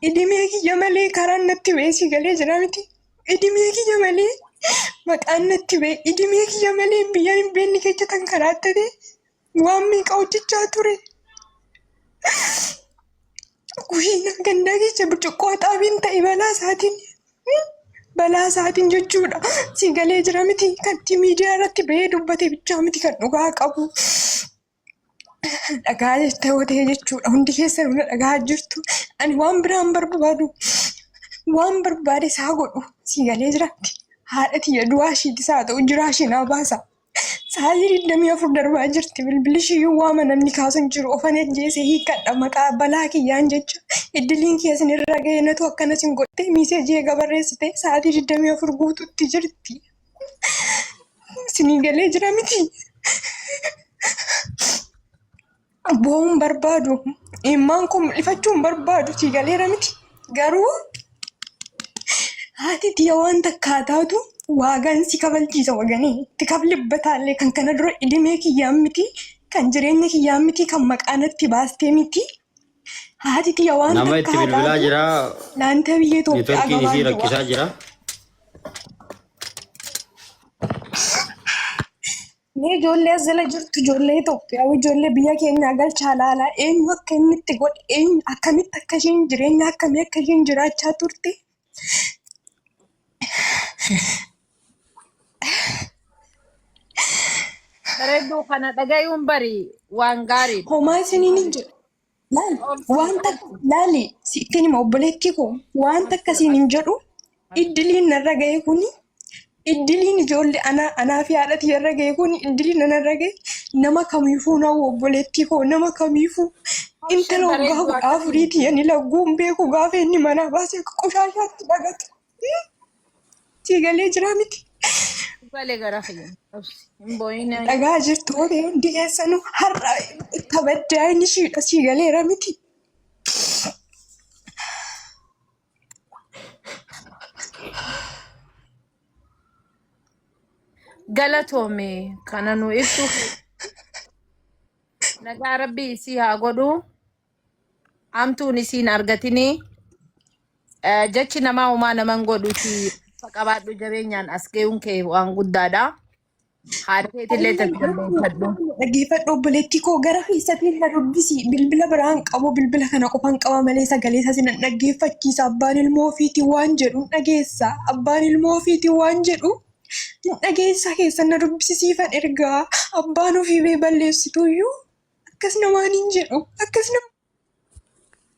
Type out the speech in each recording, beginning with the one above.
Idimee kiyya malee karaan natti ba'ee si galee jira miti. Idimee kiyya malee maqaan natti ba'e. Idimee kiyya malee biyya hin beekne keessa kan karaa ta'e waan meeqa hojjechaa ture. Kushina gandaa keessa burcuqqoo xaabiin ta'e balaa isaatiin balaa isaatiin jechuudha. Si galee jira miti kan miidiyaa irratti ba'ee dubbate bichaa miti kan dhugaa qabu. Dhagaa jettee watee jechuudha. Hundi keessan hunda dhagaa jirtu. Ani waan biraan barbaadu. Waan barbaade isaa godhu. Sii galee jiraatti. Haadha tiyya du'aa ishiiti isaa ta'u jiraa ishii naa baasa. Sa'aatii digdamii afur darbaa jirti. Bilbilli ishii yoo waama namni kaasu hin jiru. Ofan ajjeese hiikkadha maqaa balaa kiyyaan jecha. Iddiliin kiyya isin irra ga'e natu akkanas hin godhe. Miiseejii eega barreessite sa'aatii digdamii afur guututti jirti. Isinii galee jira miti. Boo'uun barbaadu. Immaan koo mul'ifachuun barbaadu sii galeera miti. Garuu haati tiyya waan takkaa taatu waagaan si kabalchiisa waganii. Itti kablibbataallee kan kana dura idimee kiyyaan miti. Kan jireenya kiyyaan miti. Kan maqaa natti baastee miti. Haati kiyya waan Nama takka itti haa bilbilaa taatu jira. naanta biyya Itoophiyaa Networkiin isii gabaabduu rakkisaa waan jira. Mee ijoollee as jala jirtu ijoollee Itoophiyaa ijoollee biyya keenyaa galchaa laalaa eenyu akka inni itti godhe eenyu akkamitti akka isheen jireenya akkamii akka isheen jiraachaa turte Bareedduu kana dhagayuun bari waan gaariidha. Homaa isiniin hin jedhu. Laal, waan takka, laali, sittiin hima obboleettii koo, waan takka siin hin jedhu, iddiliin narra ga'e kuni Iddiliin ijoollee anaa anaa fi haadha tiyya irra ga'e kun iddiliin nana irra ga'e nama kamiifuu na obboleettii koo nama kamiifuu intala waggaa kudha afurii tiyya ni lagguun beeku gaafa inni manaa baasee akka qoshaashaatti dhagatu. Sii galee jiraa miti. Galee garaa fayyadu. Obsi. Hin boo'ina. Dhagaa jirtu hore hundi keessanu har'a itti abaddaa inni shiidha sii galeera miti. galatoomi kana nu ibsu nagaa rabbii isii haa godhu hamtuun isiin argatinii Eh, jechi namaa homaa naman godhuti qabaadhu jabeenyaan as ga'uun kee waan guddaadha. Haadha keetillee tasgabbeeffadhu. Dhaggeeffadhu obboleettii koo gara keessatiin na dubbisi. Bilbila biraa hin qabu. Bilbila kana qofa hin qaba malee sagalee isaas nan dhaggeeffachiisa. Abbaan ilmoo ofiitii waan jedhu hin dhageessa. Abbaan ilmoo ofiitii waan jedhu hin dhageessa keessan na dubbisi siifan ergaa. Abbaan ofii bee balleessituyyuu akkas namaan hin jedhu. Akkas nama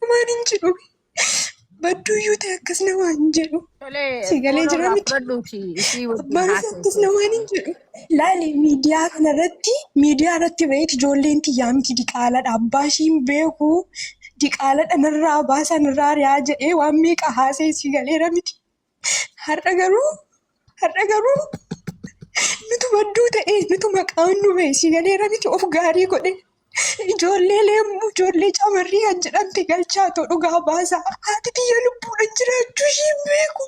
Waan hin jedhu badduuyyuu ta'e akkas na waan hin jedhu. Tolee, Si galee foon jira irraa miti? fudhadhuuti isii wajjin Abbaan isaa akkas haasa'e. na waan hin jedhu. Laali miidiyaa kana irratti miidiyaa irratti ba'eeti ijoolleen tiyyaa miti diqaaladha abbaa ishiin beeku diqaaladha narraa baasaa narraa ari'aa jedhee waan meeqa haasa'e si galeera miti. Har'a garuu har'a garuu nutu badduu ta'e nutu maqaan nu ba'e si galeera miti of gaarii godhe ijoollee leemmu ijoollee camarrii kan jedhamte galchaa too dhugaa baasaa haati tiyya lubbuudhaan jiraachuu ishii hin beeku.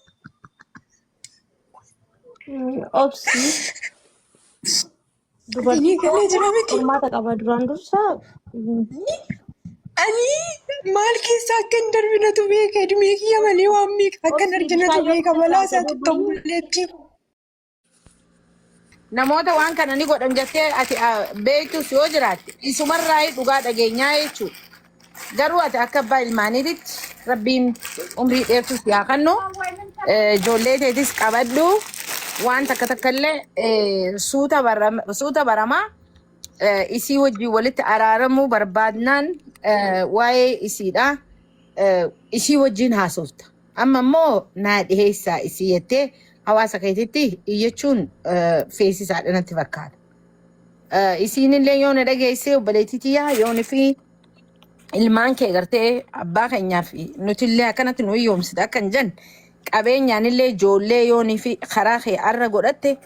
Obsi. Dubartiin galee jira miti. Qormaata qaba duraan dursa. Ani maal keessa akka hin darbinatu beeka edmee kiyya malee waan meeqa akka hin arginatu beeka balaa isaatti tomboleetti. Namoota waan kana ni godhan jettee ati beektus yoo jiraatte isumarraa dhugaa dhageenyaa jechuudha. Garuu ati akka abbaa ilmaaniititti rabbiin umrii dheertuu si haa kennu. Eh, Ijoollee teetis qabadhu. Waan takka takka illee eh, suuta baram- suuta baramaa eh, isii wajjin walitti araaramuu barbaadnaan eh, waa'ee isiidha. Eh, Isii wajjin haasofta. Amma immoo naa dhiheessaa isii jettee hawaasa keetitti iyyachuun eh, feesisaadha natti fakkaata. Eh, isiinillee yoo na dhageessee obboleettii tiyyaa yoon fi ilmaan kee gartee abbaa keenyaa fi nutillee akkanatti nu hiyyoomsite akka hin jenne qabeenyaanillee ijoollee yoonii fi karaa kee arra godhatte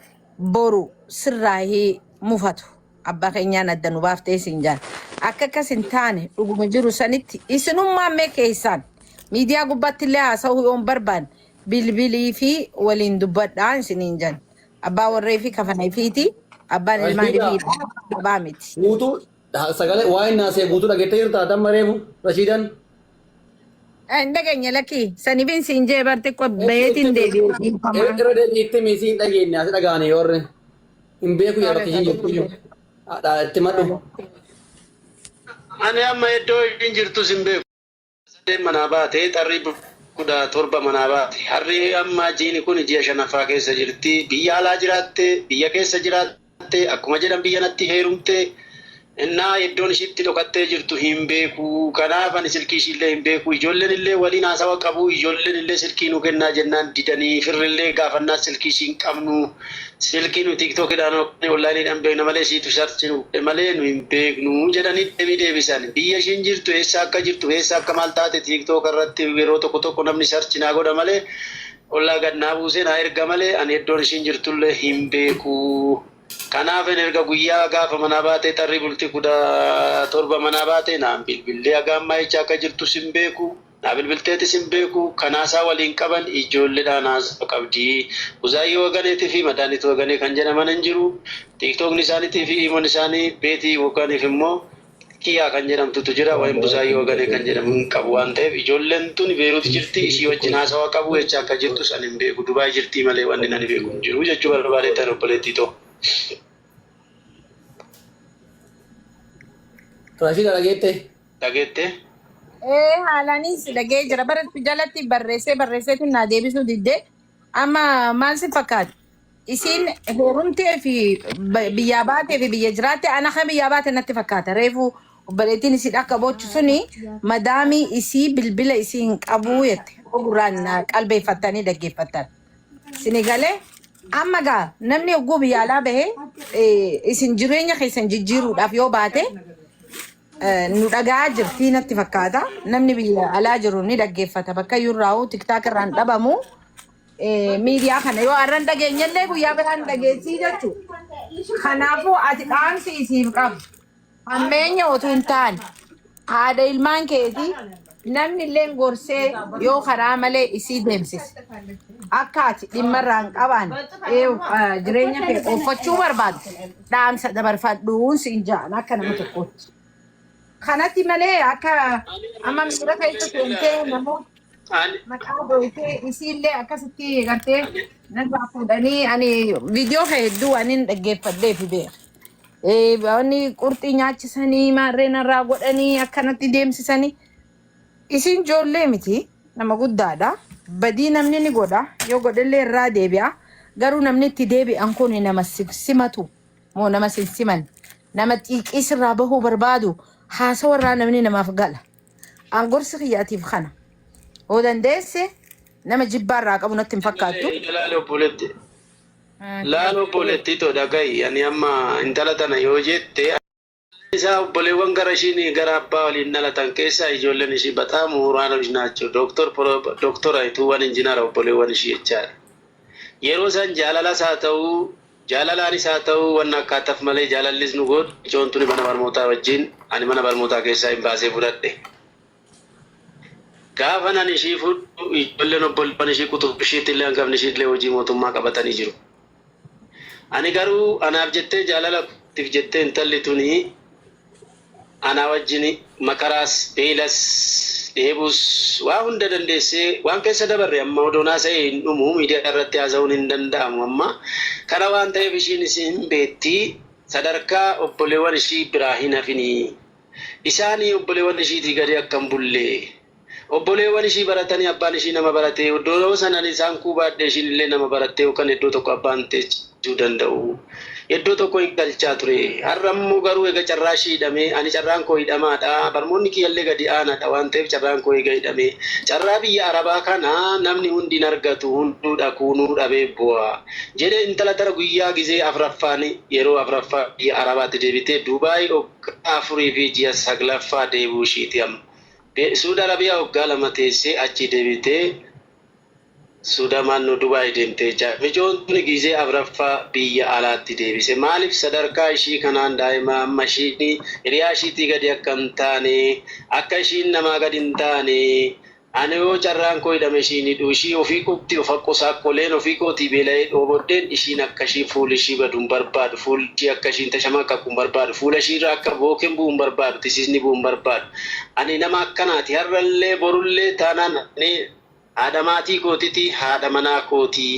boru sirraa hii mufatu abbaa keenyaan adda nu baaftee siin jaan akka akkas hin taane dhuguma jiru sanitti isinummaan mee keessaan miidiyaa gubbaattillee haasa'uu yoon barbaanne bilbilii fi waliin dubbadhaa isiniin jan. Abbaa warree fi kafana ifiiti. Abbaan ilmaan Rashiida ifiidha. Abaa miti. guutuu ha- sagalee waa'ee naasee guutuu dhageettee jirta haatan mareefu Rashiidan. Eh, Hin dhageenye lakkii. Sanifin siin jee bar xiqqoo bayeetiin deebi'e dhiifamaa. Irra deebii itti miisii hin dhageenye asi dhagaane yoo irra hin beeku yaa bakka ishiin jirtu iyyuu. Haadha itti madhu. Ani amma iddoo ishiin jirtu sin beeku. Sadeen manaa baate, xarrii buda torba manaa baate. Harri amma jiini kuni ji'a shanaffaa keessa jirti. Biyya alaa jiraatte, biyya keessa jiraatte, akkuma jedhan biyya natti heerumte. Innaa eddoon ishii itti dhokattee jirtu hin beeku. Kanaaf ani silkii ishiillee hin beeku. Ijoollenillee waliin haasawa qabu. Ijoollenillee silkii nuu kennaa jennaan didanii, firrillee gaafannaan silkii ishii hin qabnu. Silkii nu TikTok dhaan yookaan online dhaan beekna malee ishiitu search nu godhe malee nu hin beeknu jedhanii deebii deebisan. Biyya ishiin jirtu eessa akka jirtu fi eessa akka maal taate TikTok irratti yeroo tokko tokko namni search naa godha malee qullaa gad naa buusee naa erga malee ani eddoon ishiin jirtu illee hin beeku. Kanaafin erga guyyaa gaafa manaa baatee tarrii bultii 17 manaa baatee naan bilbillee haga ammaa eecha akka jirtus hin beeku. Naa bilbilteetis hin beeku kan haasaa waliin qaban ijoolledhaan haasaa qabdi. Buzaayyee Waganeetii fi Madaanit Waganee kan jedhaman hin jiru. Tiiktookni isaanitii fi iimon isaanii Beetii Waganiif immoo Kiyaa kan jedhamtutu jira wayim Buzaayyee Waganee kan jedhamu hin qabu waan ta'eef ijoollen tuni Beerut jirti ishii wajjin haasawa qabu echa akka jirtus ani hin beeku Dubai jirtii malee wannin ani beeku hin jiru jechuu barbaadeettan obboleettii too. Rashida dhageette? Dhageettee? Ee haalaanis dhagee jira bara jalatti barreessee barreesseetiin naa deebisuu didde amma maal si fakkaata isiin heerumtee fi ba- biyyaa baatee fi biyya jiraatte ana kan biyyaa baate natti fakkaata reefu obboleettiin isii akka boochu suni madaamii isii bilbila isii hin qabuu jette ogurraan na qalbeeffattanii dhaggeeffattan sini galee amma gaa namni hogguu biyya alaa bahee eh, isin jireenya keessan jijjiiruudhaaf yoo baate Eh, nu dhaga'aa jirtii natti fakkaata. Namni biyya alaa jiru ni dhaggeeffata. Bakka iyyuu irraa hoo tiktaak irraa hin dhabamu. Eh, Miidiyaa kana yoo har'a hin dhageenye illee guyyaa biraa hin dhageessii jechuudha. Kanaafuu ati dhaamsi isiif qabu. Hammeenya otuu hin taane haadha ilmaan keetii Namni illeen gorsee yoo karaa malee isii deemsise akka ati dhimma irraa hin qabaan jireenya kee ooffachuu barbaadu dhaamsa dabarfadhuun siin ja'an akka nama tokkootti. Kanatti malee akka amma miira keessa seentee namoota maqaa gooytee isiillee akkasitti gartee narraa fuudhanii ani viidiyoo kee hedduu waan hin dhaggeeffadhee fi beeku. Eh, Wanni qurxii nyaachisanii maarree narraa godhanii akkanatti deemsisanii Isin ijoollee miti nama guddaadha. Badii namni ni godha yoo godhellee irraa deebi'a. Garuu namni itti deebi'an kun nama si simatu moo nama sin siman nama xiiqii sirraa bahuu barbaadu haasawa irraa namni namaaf gala. An gorsi kiyyaatiif kana yoo dandeesse nama jibbaa irraa qabu natti hin fakkaattu. Ilaali obboleetti. Laal obboleettii too dhaga'i, ani amma intala tana yoo jette, abbaan isaa obboleewwan gara ishiin gara abbaa waliin dhalatan keessaa ijoolleen ishii baxaam muhuraanoch naachoo, doktor, pro, doktora ituuwwan injinara obboleewwan ishii jechaadha. Yeroo san jaalalas haa ta'u, jaalalaanis haa ta'u wanna akkaataf malee jaalallis nu goodhe, micoon tuni mana barmootaa wajjiin ani mana barmootaa keessaa hin baasee fudhadhe. Gaafan ani ishii fuudhu ijoolleen obboleewwan ishii quxubii ishiitillee hangafni ishiillee hojii mootummaa qabatanii jiru. Ani garuu anaaf jettee jaalala kootiif jettee intalli tuni anaa wajjin makaraas, beelas, dheebuus waa hunda dandeessee waan keessa dabarre amma odoon haasa'ee hin dhumu miidiyaa irratti haasa'uun hin danda'amu amma kana waan ta'eef ishiinis hin beetti sadarkaa obboleewwan ishii biraa hin hafini. isaani obbolewan ishiiti gadi akka hin bulle obboleewan ishii baratani abbaan ishii nama barate iddoo sanan isaan kuu baadhe ishiin illee nama baratte yookan iddoo tokko abbaan teechisu danda'u iddoo tokko hin galchaa ture har'a immoo garuu ega carraa ishii hidhame ani carraan koo hidhamaadha barmoonni kiyya illee gadi aanaadha waan ta'eef carraan koo ega hidhame carraa biyya arabaa kana namni hundi hin argatu hunduu dhakuunuu dhabee bu'a jedhe intala tana guyyaa gizee afraffaan yeroo afraffaa biyya arabaatti deebitee duubaay Waggaa afurii fi ji'a saglaffaa deebi'uu ishiiti amma. Suud Arabiyaa waggaa lama teessee achii deebitee Suuda maanno Dubai deemte jechaa. Micoon tuni gizee afraffaa biyya alaatti deebise. Maalif sadarkaa ishii kanaan daa'ima amma ishiin hiriyaa ishiitii gadi akka hin taane, akka ishiin namaa gadi hin taane Ana yoo carraan koo hidhame ishiin hidhuu ishii ofii qubti of haqqu saaqqoleen ofii kootii beela'ee dhoobodheen ishiin akka ishiin fuuli ishii badu hin barbaadu fuuli ishii akka ishiin tashamaqqaqu hin barbaadu fuula ishii irra akka booken bu'u hin barbaadu tisiisni bu'u hin barbaadu ani nama akkanaati har'allee borullee taanaan ani haadha maatii kootiti haadha manaa kootii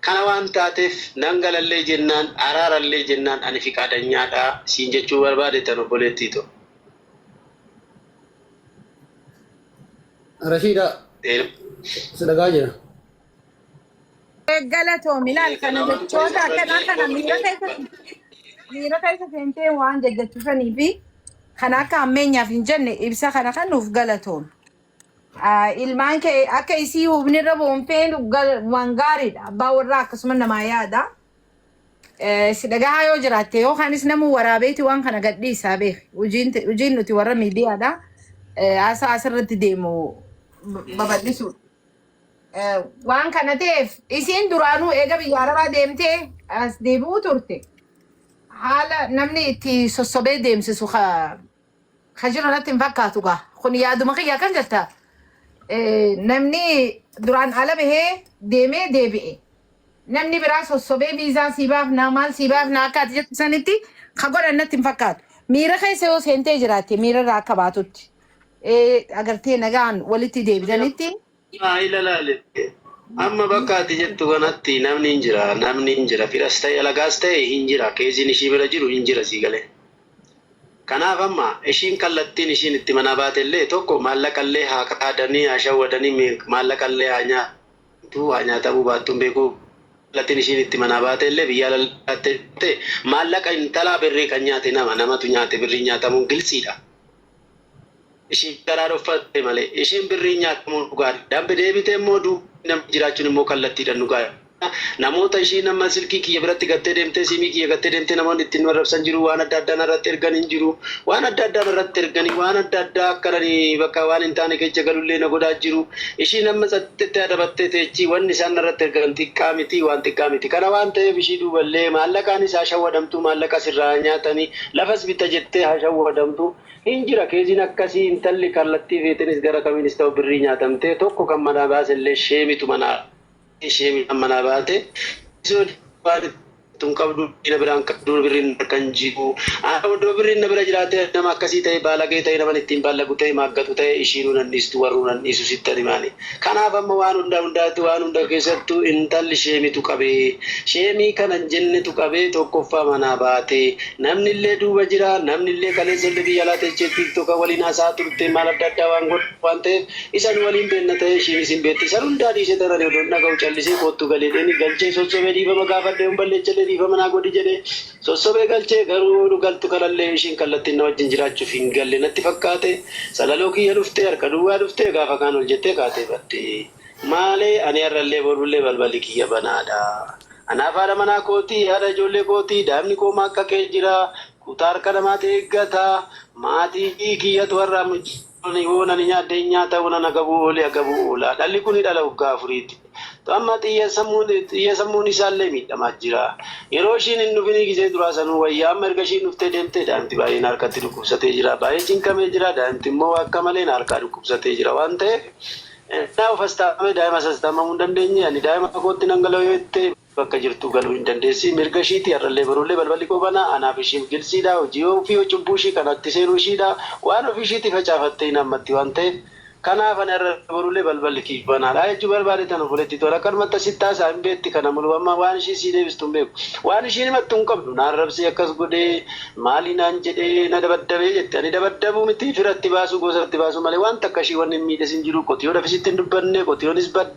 kana waan taatef nan galallee jennaan araarallee jennaan ani fiqaadanyaadha isiin jechuu barbaade tan obboleettii too. Rashiida si dhagaa jira. Galatoomii laal kana jechoota akkanaa kana miira keessa miira keessa seentee waan jajjachuusanii fi kan akka ammeenyaaf hin jenne ibsa kana kan nuuf galatoomi. Ah, Ilmaan kee akka isii hubnirra boonfeen gal- waan gaariidha. Abbaa warraa akkasuma namaa yaada. Si dhagahaa yoo jiraatte yookaanis namuu waraabeeti waan kana gadhiisaa beeki. Hojiin te- hojiin nuti warra miidiyaadha. Eh, Haasaa asirratti deemu b- babal'isuu. Eh, Waan kana ta'eef isiin duraanuu eega biyya arabaa deemtee as deebi'uu turte. Haala namni itti sossobee deemsisu ka ka jiru natti hin fakkaatu gaa kun yaaduma kiyya akkan jetta eh, namni duraan ala bahee deemee deebi'e namni biraa sossobee viizaa sii baafnaa maal sii baafnaa akka ati jettu sanitti ka godhan natti hin fakkaatu miira keessa yoo seentee jiraatte miira irraa akka baatutti eh, agartee nagaan walitti deebitanitti Gaa'ila laale. Amma bakka ati jettu kanatti namni hin jira, namni hin jira, firas ta'e alagaas ta'e hin jira, keeziin ishii bira jiru hin jira sii galee. Kanaaf amma ishiin kallattiin ishiin itti manaa baate illee tokko maallaqa illee haa kaadanii, haa shawwadanii, mi- maallaqa illee haa nyaatu, haa nyaatamuu baattuun beeku kallattiin ishiin itti manaa baate illee biyyaa lallaattee ta'e maallaqa intalaa birrii kan nyaate nama, namatu nyaate birriin nyaatamuun giltsiidha. ishii garaa dhoffatte malee ishiin birriin nyaatamuu nu gaadha dambe deebitee immoo duubii namni jiraachuun immoo kallattiidhan nu gaadha namoota ishii nama silkii kiyya biratti gattee deemtee siimii kiyya gattee deemtee namoonni ittiin nu arrabsan jiru waan adda addaa narratti ergan hin jiru waan adda addaa narratti erganii waan adda addaa akka nani bakka waan hin taane keessa galullee na godhaa jiru ishii nama tsaxxettee adabattee teechii wanni isaan narratti ergan xiqqaa miti waan xiqqaa miti kana waan ta'eef ishii duuballee maallaqaanis haa shawwadamtuu maallaqa sirraa haa nyaatanii Lafas bitta jettee ha shawwadamtu. Hin jira keeziin akkasii intalli kallattii feetenis gara kamiinis ta'u birrii nyaatamtee tokko kan manaa baase illee sheemitu manaa baatee sheemiidhaan manaa baate osoo diinni waan itti hojjattu hin qabdu diina biraa hin qabdu birriin na harka hin jiru ana odoo birriin na bira jiraatee ani nama akkasii ta'e baalagee ta'e naman ittiin baallagu ta'e maaggatu ta'e ishiinuu nan dhiistu warruu nan dhiisu sittan himaani Kanaaf amma waan hundaa hundaatti waan hunda keessattuu intalli sheemitu qabe. Sheemii kana hin jennetu qabee tokkoffaa manaa baate. Namni illee duuba jira. Namni illee kaleessa illee biyya alaa teechee tiiktoka waliin haasa'aa turte maal adda addaa waan godhan waan ta'eef isa nu waliin beenna ta'ee ishiinis hin beetti. San hundaa dhiisee tan ani odoon dhaga'u callisee koottu gal jedheenii galchee sossobee dhiifama gaafadhe yoon balleechellee dhiifama naa godhi jedhe. Sossobee galchee garuu nu galtu kanallee ishiin kallattiin na wajjin jiraachuuf hin galle natti fakkaate salaloo kiyya dhuftee harka duwwaa dhuftee gaafa kaan ol jettee kaatee badde. Maalee ani har'allee borullee balballi kiyya banaadha. Anaaf haadha manaa kooti, haadha ijoollee kooti, daa'imni koo maaqqaqee jira. Kutaa harka namaati eeggata. Maatii kiyyatu har'a Ammajjii. Loli hoo nani nyaadhe hin nyaata hoo nan agabu hoo li agabu oola. Dhalli kuni dhala waggaa afuriiti. To amma xiyya sammuun xiyya sammuun isaallee miidhamaa jira. Yeroo ishiin hin dhufinii gizee duraa sanuu wayya amma erga ishiin dhuftee deemtee daa'imti baay'ee na harkatti dhukkubsatee jira. Baay'ee cinqamee jira. Daa'imti immoo waa akka malee na harkaa dhukkubsatee jira waan ta'eef ennaa of astaamee daa'ima sastaammamuu hin dandeenye ani daa'ima kootti nan gala yoo jette bakka jirtuu galuu hin dandeessi mirga ishiiti har'allee boruullee balballi koo banaa anaaf ishiif giltsiidha hojii ofii hoo cubbuu ishii kana itti seenuu ishiidha waan ofii ishiitii facaafattee hin haammatti waan ta'eef kanaaf ani har'a boruullee balballi kiif banaadha jechuu barbaade tan obboleettii tola akkanumatti asitti haasa'a hin beetti kana muluu amma waan ishiin sii deebistu hin beeku waan ishiin himattu hin qabdu na arrabsee akkas godhee maalii naan jedhee na dabaddabee jette ani dabaddabuu miti fira itti baasuu gosa itti baasuu malee waan takka ishii wanni hin miidhes hin jiru qotiyoodhaf isitti hin dubbanne qotiyoonis badde